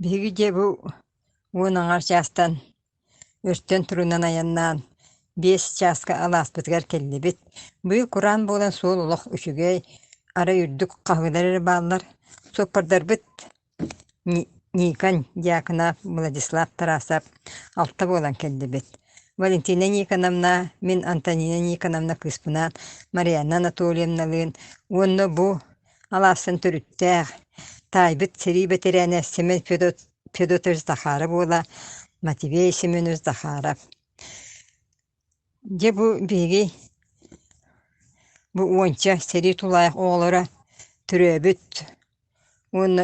Биһиги дьиэ бу уон аҥар чаастан өртөн турунан айаннаан биэс чааска алааспытыгар кэллибит. Быйыл кураан буолан суол олох үчүгэй, арай үрдүк хаһыылар эрэ бааллар. Суоппардарбыт Никон Дьяконов, Владислав Тарасов алта буолан кэллибит. Валентина Никоновна, мин Антонина Никоновна кыыспынаан Марианна Анатольевналыын уонна бу Алаассан төрүттээх, таайбыт сэрии бэтэрээнэ Семен Федотович Захаров уола Матвей Семенович Захаров. Дьэ бу биһиги бу уонча сэрии тулаайах оҕолоро төрөөбүт уонна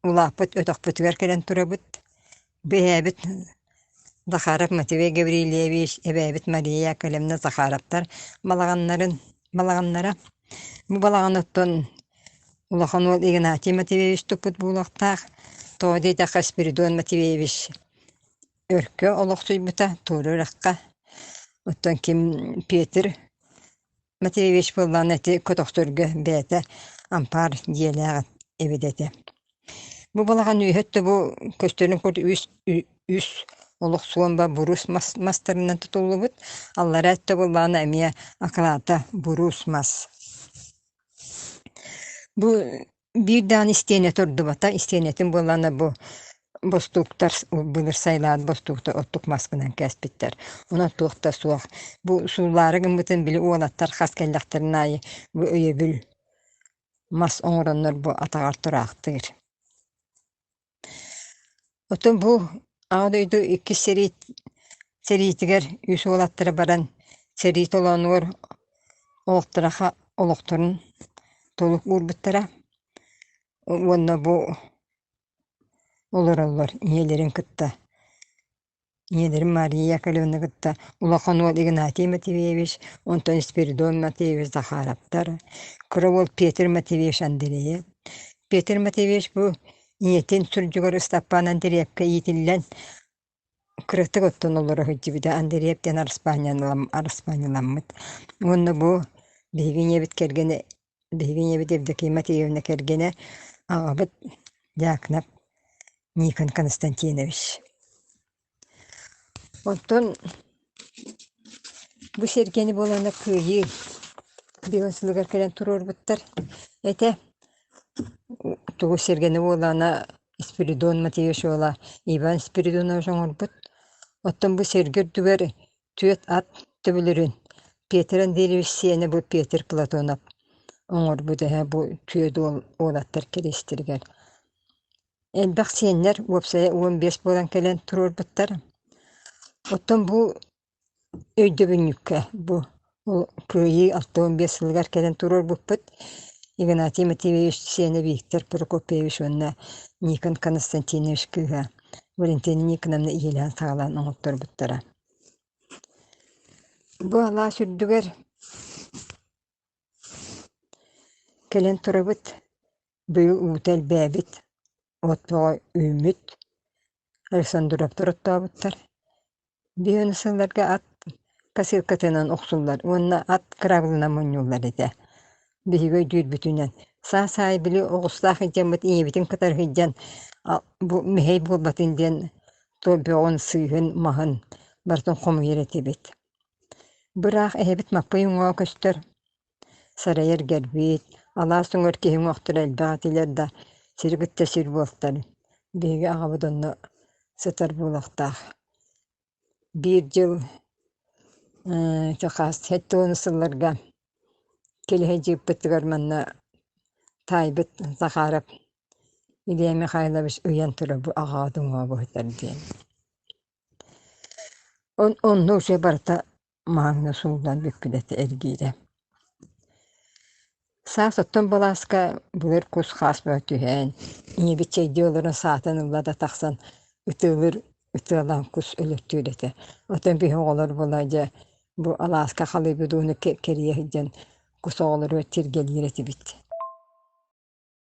Улааппыт өтөхпүтүгэр кэлэн турабыт, бэйээбит Захаров Матвей Гаврильевич, эбээбит Мария Яколевна Захаровтар балаҕаннарын балаҕаннара. Бу балаҕан оттон улахан уол Игнатий Матвеевич туппут буолуохтаах, тоҕо диэтэххэ Спиридон Матвеевич өркө олохсуйбута, туора үрэххэ. Оттон ким Петр Матвеевич буоллаҕына ити көтөхтөргө бэйэтэ ампаар дьиэлээх эбит этэ. Бу балаҕан үөһэт да бу көстөрүн курдук үс үс олох суомба буруус мас мастарынан тутуллубут. Аллараа өттө буоллаҕына эмиэ акылаата буруус мас. Бу Биир даҕаны истиэнэ турдубата, истиэнэтин буоллаана бу бостууктар былыр сайылаат бостууктар оттук маскынан кээспиттэр. Онон туох да суох. Бу суулаары гыммытын били уолаттар хас кэллэхтэрин аайы бу өйөбүл мас оҥороннор бу атаҕар тураахтыыр Отон бу Аҕа дойду иккис сэрии сэриитигэр үс уолаттара баран сэрии толоонугар олохтороха олохторун толук уурбуттара уонна бу олороллор ийэлэрин кытта ийэлэрим Мария Яковлевны кытта улахан уол Игнатий Матвеевич, онтон Спиридон Матвеевич Захаровтар, кыра уол Петр Матвеевич Андреев. Петр Матвеевич бу ийэтин сурдьугар Ыстапаан Андреевка иитиллэн кыратык оттон олоро сылдьыбыта. Андреев диэн араспаанньалам- араспаанньаламмыт. Уонна бу биһиги ийэбит кэргэнэ Биһиги ийэбит Евдокима Тиевна кэргэнэ, аҕабыт Дьаакынап Никон Константинович. Оттон бу сэргэни буолана кыайыы бион сылыгар кэлэн туруорбуттар этэ. Тугу сэргэни буолаана Спиридон Матвеевич уола Иван Спиридонович оҥорбут. Оттон бу сэргэ үрдүгэр Түөрт ат төбөлөрүн Петр Андреевич сиэнэ бу Петр Платонов оҥорбут эһэ бу түөрт уол уолаттар кэриэстэригэр. Элбэх сиэннэр, уопсайа уон биэс буолан кэлэн туруорбуттар. Оттон бу өйдөбүнньүккэ бу Кыайыы алта уон биэс сылыгар кэлэн туруорбуппут Игнатий Матвеевич сиэнэ Виктор Прокопьевич уонна Никон Константинович кыыһа Валентина Никоновна ийэлээн-саҕалаан оҥорторбуттара. Бу алаас үрдүгэр кэлэн турабыт, быйыл уута элбээбит, от бөҕө үүммүт, Александровтар оттообуттар. Биһиэнэ сылларга ат косилкатынан охсуллар уонна ат кыраабылынан мунньуллар этэ. биһиги өйдүүрбүтүнэн саа-саай били оҕустаах илдьэммит ийэбитин кытары сылдьан бу мэһэй буолбатын диэн туох бөҕүн сыыһын маһын барытын хомуйар этибит быраах эһэбит Маппый уҥаҕа көстөр сарайар гэрбит алаас өҥөр киһи уҥуохтара элбэх этилэр да сири кытта сир буолтар биһиги аҕабыт онно сытар буолуохтаах Биир дьыл сэттэ уон сылларга килиһэ дьыыппытыгар манна таайбыт Захаров Илья Михайлович ыйан турар бу аҕаа дуҥуо буһутар диэн. Онно уже барыта Манна суунан бүппүнэти эргиирэ. Саас оттон былааска былыр кус-хаас мөтүһээн, ийэбит чэйдии олорон саатын ылла да тахсан ытыалыыр ытыалаан кус өлөртүүр этэ. Оттон биһи оҕолор буола дьэ бу алааска халыйбыт ууну кэ кэрийэ сылдьан кус оҕолоругар тиргэлиир этибит.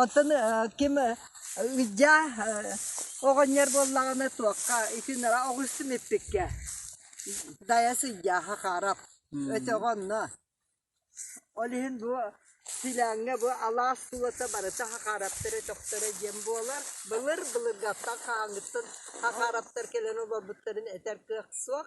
Оттон ким Видя оҕонньор буоллаҕына туохха итин ыра оҕуйсум иппиккэ дайа сыдьааха хаарап өтөҕө онно ол иһин бу силээҥҥэ бу алаас суота барыта хахаараптара тохторо диэн буолар былыр былыргаттан хааҥыттан хахаараптар кэлэн олорбуттарын этэр кыах суох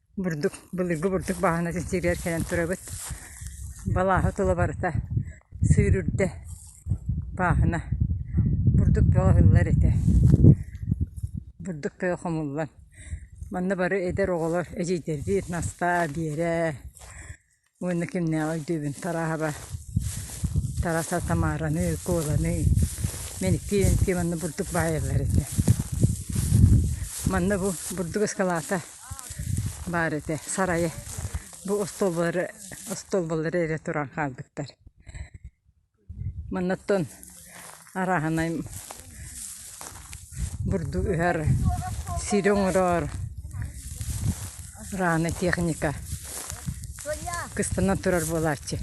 бурдук былыргы бурдук баһаанатын сииригэр кэлэн турабыт балааһы тула барыта сүүрүрдэ бааһына бурдук баҕаһыллар этэ бурдук тыа хомуллан манна бары эдэр оҕолор эдьиийдэрдиир Настаа Биэрэ уонна кимнээҕи өйдүүбүн Тарааһаба Тараса Тамараны Куоланы мэниктии манна бурдук баайаллар ити манна бу бурдук ыскалаата баар этэ сарайы бу остуолбалары остуолбалары эрэ туран хаалбыттар Манныттан арааһынай бурдук ыһар, сири оҥороор арааһынай техника кыстана турар буолааччы.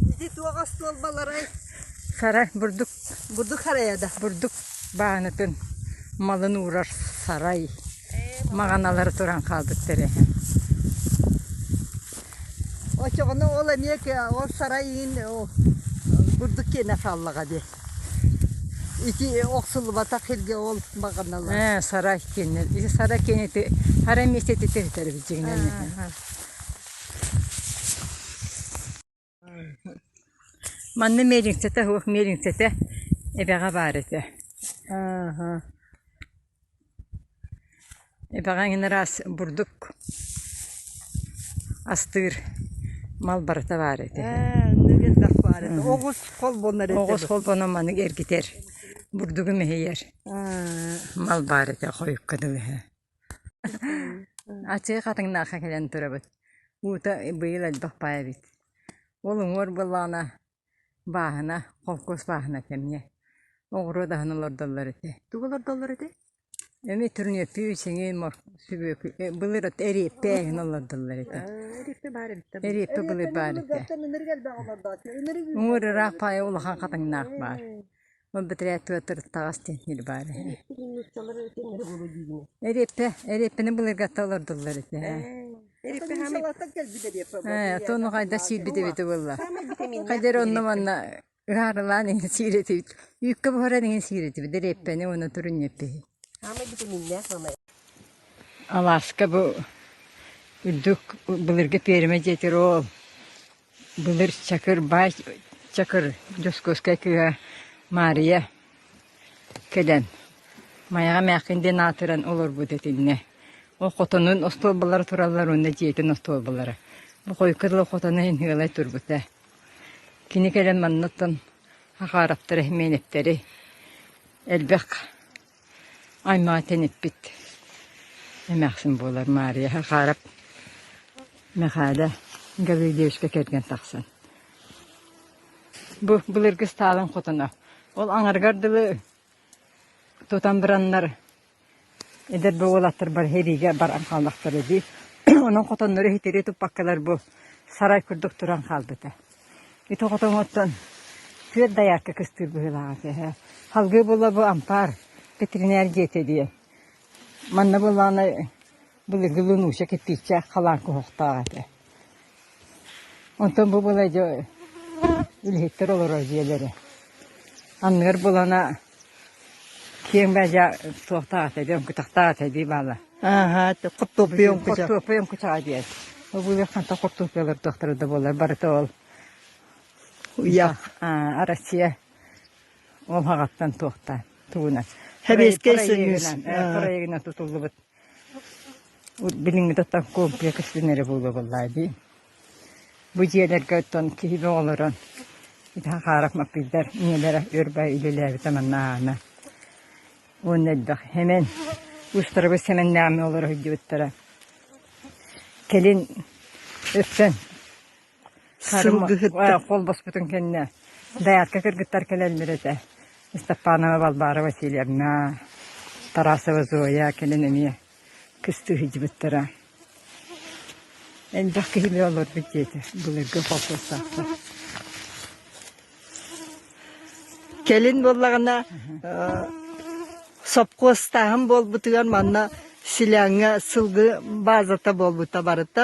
Ити туох остуол баларай? Сара бурдук Бурдук харайа да. бурдук баанатын малын уурар сарай. маҕаналары туран хаалбыттар үһү очоҕуну ол эмиэ ол сарай иин бурдук киэнэ хааллаҕа дии ити охсуллубатах иргэ ол маҕаналар ээ сарай киэнэ сарай киэнити сарай миэстэтиттэн үтэрбит дьиҥинэн Манна миэлиҥсэтэ суох, миэлиҥсэтэ эбэҕэ баар этэ. Аһа. Эбэҕэ эн ыраас бурдук астыыр мал барыта баар этэ. Ээ, инники элбэх баар этэ. Оҕус холбонор этэ. Оҕус холбонор маннык эргитэр. Бурдугу мэһийэр. Мал баар этэ хойукка дылы. Ачык атыҥнаахха кэлэн төрөбүт. Уута быйыл элбэх баай эбит. Ол уҥуор буоллаҕына бааһына, холкуос бааһына кэмниэ. Оҕуруот аһын олордоллор этэ. Тугу олордоллор этэй? Эми турнепи, сиҥи, сүбүөкү, былыр эриэппэ иһин олордоллор этэ. Эриэппэ баар эбиттэ. Эриэппэ былыр баар этэ. Уҥуор ыраах паайа улахан хатыҥнаах баар. Ол бэтэрээ Петр таҕас диэн сир баар үһү. Эриэппэ, эриэппэни былыргатта олордуллар ити. Эриэппэ хаамыттан кэлбит эриэппэ. Ээ, тону хайда сиирбит эбитэ буолла. Хайда эрэ онно манна ыһаарылаан иһин сииретибит. Үүккэ буһаран иһин сииретибит. Эриэппэни уона турунньаппыһы. Хаамай витаминнээх мамай. Алааска бу үрдүк былыргы пиэримэ диэтир ол. Былыр Чакырбаай Чакыр Дьоскуоскай кыыһа Маарыйа кэлэн Майаҕа эмээххин диэн аатыран олорбут этиннэ. Ол хотонун остуолбалара тураллар уонна дьиэтин остуолбалара. Бу хойукка дылы хотоно иһин ыалай турбута. Кини кэлэн маннаттан хахаараптары, мээнэптэри элбэх аймаатан эппит эмээхсин буолар Маарыйаһа Хаарап Мэхээлэ Гаврил девичка кэргэн тахсан бу былыргы стаалын хотоно ол аҥаргар дылы тутан быраннар эдэр бу уолаттар бар хэриигэ баран хааллахтара дии онон хотоннору иһитирии туппаккалар бу сарай курдук туран хаалбыта Ити хотоҥоттон түөрт доярка кыстыыр быһыылаах этэ үһү. Салгыы була бу ампаар ветеринар диэтэ дии. Манна буоллаҕына былыргы Лунуша кирпиччээх халаан куһахтаах этэ. Онтон бу була дьэ үлэһиттэр олорор дьиэлэрэ. Анныгар булана Киэҥ баа дьа туохтаах эти оҥкутахтаах эти баала. Ааһа, хортуоппуйа оҥкуча. Хортуоппуйа оҥкучаҕа диэн. Обулах ханта хортуоппуйалар туохтара да буолар барыта ол. Уйах. Аа, Россия ол хаҕаттан туохта. Тугунан. Хэбиэскэй сөнүүс. Проегина тутуллубут. Билиҥҥи да оттон комплекс диэн эрэ буолуо буоллаҕа дии. Бу дьиэлэргэ оттон киһини оҕолорон ити Хахаров Маппыйдар ийэлэрэ Өрбай үлэлээбитэ манна аана. Уонна элбэх Хэмэн, Устарабы Сэмэннээмэ олоро сылдьыбыттара. Кэлин өттөн сырылгыһыттар хол босхутун кэннэ даятка кыргыттар кэлэллэр этэ Ыстаппанова Балбаара Васильевна Тарасова Зоя кэлэн эмиэ кыстыы сылдьыбыттара элбэх киһи олорбут диэтэ былыргы холкуостаахтар Кэлин буоллаҕына сопхуостааһын буолбутугар манна селяҥҥа сылгы базата буолбута барыта.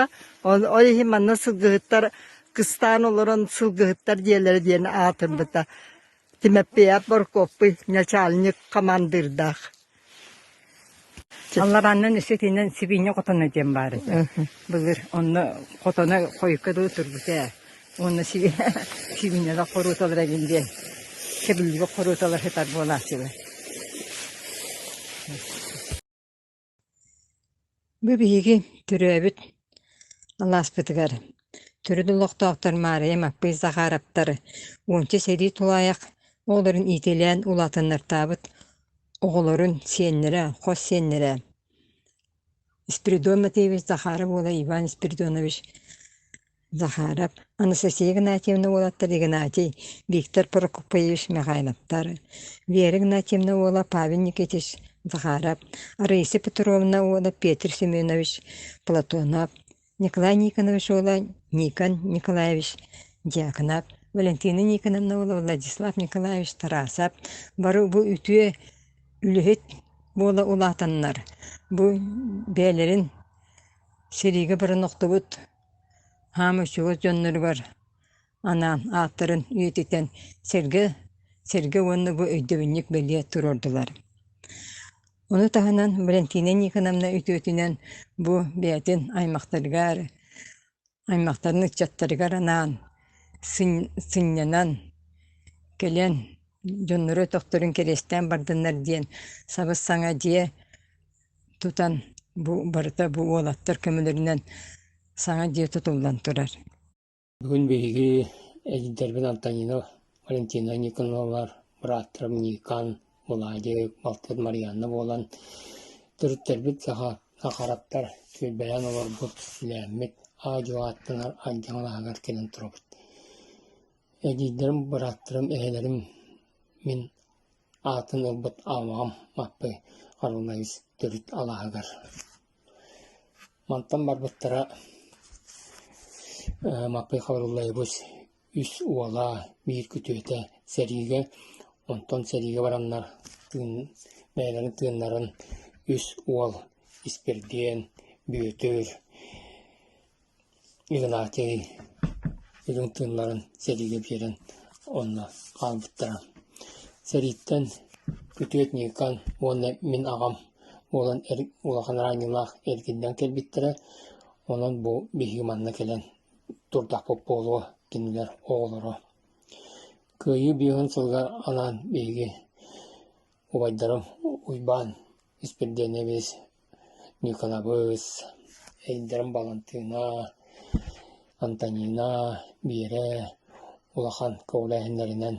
Ол иһин манна сылгыһыттар кыстаан олорон сылгыһыттар диэлэрэ диэн аатырбыта. Тимопеяп Боркуоппуй начальник командирдаах Алларааннан өссө итинэн сибиинньэ хотоно диэн баар этэ. Былыр онно хотоно хойукка дылы турбут ээ. Уонна си- сибиинньэлэр хорууталара эбин диэн кэбиллибит хорууталар сытар буолааччылар. Бу биһиги төрөөбүт алааспытыгар төрүт олохтоохтор Маарыйа Маппый Захаровтар уонча сэрии тулаайах оҕолорун иитилээн улаатыннартаабыт оҕолорун сиэннэрэ, хос сиэннэрэ Спиридон Матвеевич Захаров уола Иван Спиридонович Захаров Анастасия Игнатьевна уолаттар Игнатий, Виктор Прокопьевич Михайловтар, Вера Игнатьевна уола Павел Никитич Захаров, Арыйса Петровна уола Петр Семенович Платонов, Николай Никонович уола Никон Николаевич Дьяконов, Валентина Никоновна уола Владислав Николаевич Тарасов, бары бу үтүө үлэһит буола улаатаннар, бу бэйэлэрин сэриигэ быран охтубут хаамыыччылар дьонноругар анаан ааттарын үйэтитэн сэргэ сэргэ уонна бу өйдөбүнньүк бэлиэ туруордулар. Ону таһынан Валентина Никоновна үтүөтүнэн бу бэйэтин аймахтарыгар аймахтарын ыччаттарыгар анаан сынньанан кэлэн дьонноро өтөхтөрүн кэриэстээн бардыннар диэн сабыс саҥа дьиэ тутан бу барыта бу уолаттар көмөлөрүнэн саҥа дьиэ тутуллан турар Бүгүн биһиги эдэрбин Антонина Валентина Никоновалар, бырааттара Никан, Булаадьык, балтыт Марианна буолан төрүттэрбит сахараптар сүүрбэлээн олорбут, силээммит, аа-дьуо ааттанар Андьаҥ алаһыгар кэлэн турабыт. Эдиийдэрим, бырааттарым, эһэлэрим мин Аатын ылбыт аамаҕым Маппый Харылайыс төрүт алааһыгар. Мантан барбыттара Маппый Харылайбыс үс уола, биир күтүөтэ сэриигэ, онтон сэриигэ бараннар бэйэлэрин тыыннарын үс уол испирдиэн, бүөтүр, Игнатий Илин тыыннарын сэриигэ биэрэн онно хаалбыттара. Сэрииттэн күтүөт Ньыыкан уонна мин аҕам буолан улахан араанньылаах эргиллэн кэлбиттэрэ, онон бу биһиги манна кэлэн турдахпыт буолуо кинилэр оҕолоро. Кыайыы биэһин сылыгар анаан биһиги убайдарым Уйбаан Испирдиэнэбис, Ньукулабыс, эйэлэрим Балантыына, Антонина, Биэрэ улахан көҕүлээһиннэринэн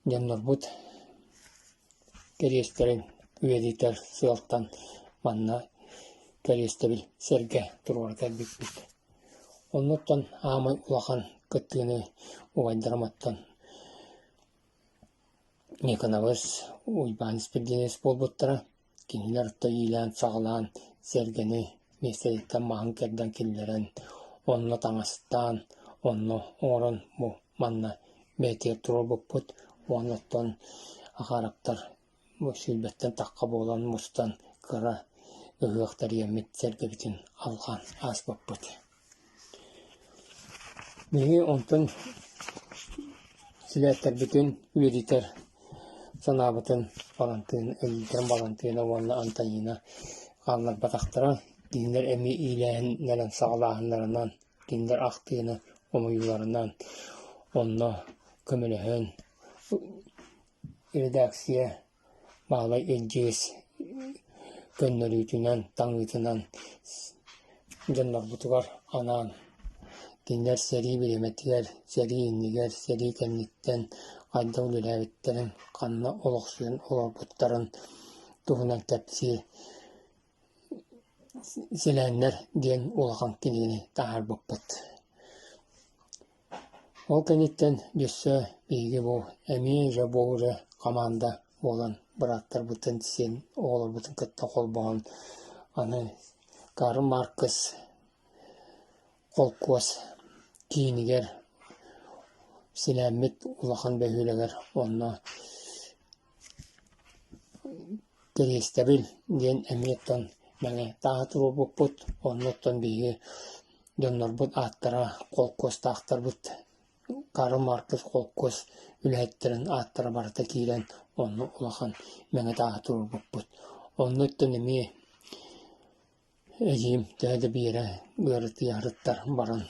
дьоннорбут кэриэстэрин үөдүтэр сыалтан манна кэриэстэбил сэргэ туруора кэлбиппит. Оннуттан аамай улахан кыттыыны убайдарым оттон Никонабыс Уйбаан испирдиэнэс буолбуттара, кинилэр орто иилээн-саҕалаан сэргэни миэстэниттэн маһын кэрдэн киллэрэн, онно таҥастаан, онно оҥорон бу манна бээтийэр туруорбуппут уонна оттон акаарактар Сүүрбэттэн тахха буолан мустан кыра ыһыах тэрийэммит сэргэбитин алҕаан ааспыппыт Биһиги онтон силээтэрбитин үөрэтэр санаабытын Балантыын, Өлүкэн Балантыына уонна Антонина хаалларбатахтара. Кинилэр эмиэ иилээһиннэрин, саҕалааһыннарынан, кинилэр ахтыыны, хомуйууларынан онно көмөлөһөн Редакция Баһылай Эдьиийс көннөрүүтүнэн, таҥыытынан дьоннорбутугар анаан кинилэр сэрии бириэмэтигэр, сэрии иннигэр, сэрии кэнниттэн хайдах үлэлээбиттэрин, ханна олохсуйан олорбуттарын туһунан кэпсии Силээннэр диэн улахан кинини таһаарбыппыт. Ол кэнниттэн өссө биһиги бу эмиэ дьэ бу дьэ хамаанда буолан бырааттарбытын сиэн оҕолорбутун кытта холбоон аны Карл Маркс холкуос киинигэр силээммит улахан бөһүөлэгэр онно Кириэстэбил диэн эмиэ оттон мэҥэ тааһы туруорбуппут, онно оттон биһиги дьоннорбут ааттара холкуостаахтарбыт Карл Маркс холкуос үлэһиттэрин ааттара барыта киирэн онно улахан мэҥэ тааһы туруорбуппут. Онно оттон эмиэ Эдьиим Дээдэ Биэрэ ыарытыйарыттан баран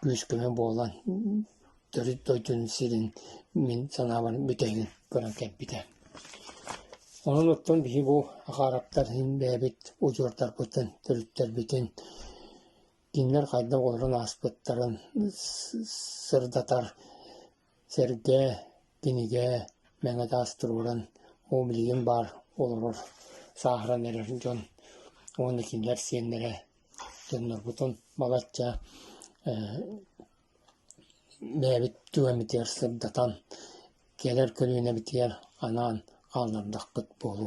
күүс-көмө буолан төрүт дойдутун сирин мин санаабар бүтэһигин көрөн кэлбитэ. Онон оттон биһи бу акаараптар бэйэбит удьуордарбытын, төрүттэрбитин кинилэр хайдах олорон ааспыттарын сырдатар Сэргээ, кинигэ мэҥэ таас туруоран, уу билигин баар олорор, сааһыран эрэр дьон уонна кинилэр сиэннэрэ дьоннорбутун балачча бэйэбит түгэбитигэр сырдатан, кэлэр көлүөнэбитигэр анаан хааллардахпыт буолуо